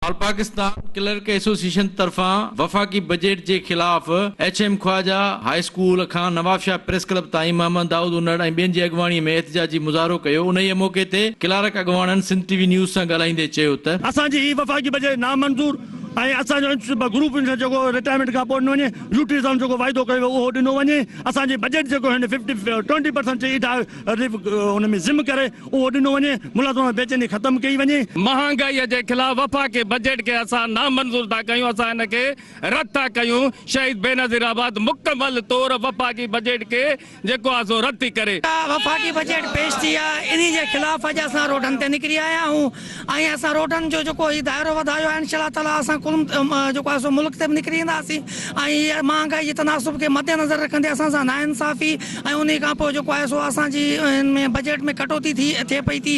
آل Pakistan clerk association طرفان وفاقي budget جي خلاف H M Khawaja high school کان نوابشاهه پريس ڪلب تائين محمد دائود انڙ ۽ ٻين جي اڳواڻي ۾ احتجاجي مظاهرو ڪيو انهيء موقعي تي ڪلارڪ اڳواڻن سنڌ ٽي وي نيوز سان ڳالهائيندي چيو ته. اسان جي هي وفاقي بجيٽ نامنظور ۽ اسان جو انسٽيٽيوٽ گروپ انسٽيٽيوٽ جيڪو رٽائرمينٽ کان پوء ڏنو وڃي يوٽيلٽيز آن جيڪو واعدو ڪيو ويو اهو ڏنو وڃي اسان جي بجيٽ جيڪو هن ففٽي ٽوئنٽي پرسنٽ چئي اڍائي رليف ان ۾ ضم ڪري اهو ڏنو وڃي، ملازمن ۾ بيچيني ختم ڪئي وڃي. مهانگائي جي خلاف وفاقي بجيٽ کي اسان نامنظور ٿا ڪيون، اسان ان کي رد ٿا ڪيون، شهيد بينظير آباد مڪمل طور وفاقي بجيٽ کي جيڪو آهي سو رد ٿي ڪري. وفاقي بجيٽ پيش ٿي آهي انهي جي خلاف اڄ اسان روڊن تي نڪري آيا آهيون، ۽ اسان روڊن جو جيڪو هي دائرو وڌايو آهي انشاء الله تعاليٰ اسان ڪل جيڪو آهي سو ملڪ تي به نڪري اينداسين ۽ هي مهانگائي جي تناسب کي مدنظر رکندي اسان سان ناانصافي ۽ انهي کان پوء جيڪو آهي سو اسان جي ان ۾ بجيٽ ۾ ڪٽوتي ٿي ٿئي پئي ٿي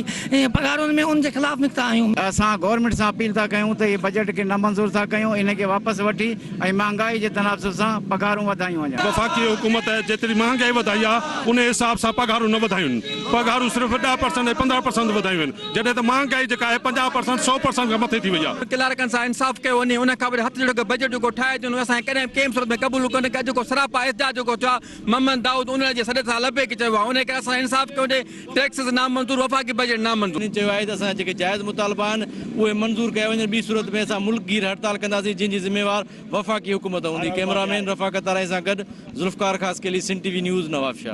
پگهارن ۾ ان جي خلاف نڪتا آهيون. اسان گورنمينٽ سان اپيل ٿا ڪيون ته هي بجيٽ کي نه منظور ٿا ڪيون ان کي واپس وٺي ۽ مهانگائي جي تناسب سان پگهارون وڌايون وڃن. وفاقي حڪومت جيتري مهانگائي وڌائي آهي انهي حساب سان پگهارون نه وڌايون آهن پگهارون صرف ڏهه پرسنٽ ۽ پندرهن پرسنٽ وڌايون آهن جڏهن ته مهانگائي جيڪا آهي پنجاهه پرسنٽ سؤ پرسنٽ کان مٿي ٿي وئي آهي. ڪلارڪن سان انصاف ڪيو وڃي ان کان وڏي هٿ جوڙي ڪو بجيٽ جيڪو ٺاهي اچي ان کي اسان ڪڏهن به ڪنهن به صورت ۾ قبول ڪونه ڪيو جيڪو سراپا احتجاج جيڪو ٿيو آهي محمد دائود اونڙي جي سڏ سان لبيڪ چيو آهي انهي ڪري اسان انصاف ڪيو وڃي ٽيڪسز نامنظور وفاقي بجيٽ نامنظور. هن چيو آهي ته اسان جا جيڪي جائز مطالبا آهن اهي منظور ڪيا وڃن ٻي صورت ۾ اسان ملڪ گير هڙتال ڪنداسين جنهن جي ذميوار وفاقي حڪومت هوندي ڪئميرا مين رفاقت تارائي سان گڏ Zulfiqar Khaskheli Sindh T V news Nawabshah.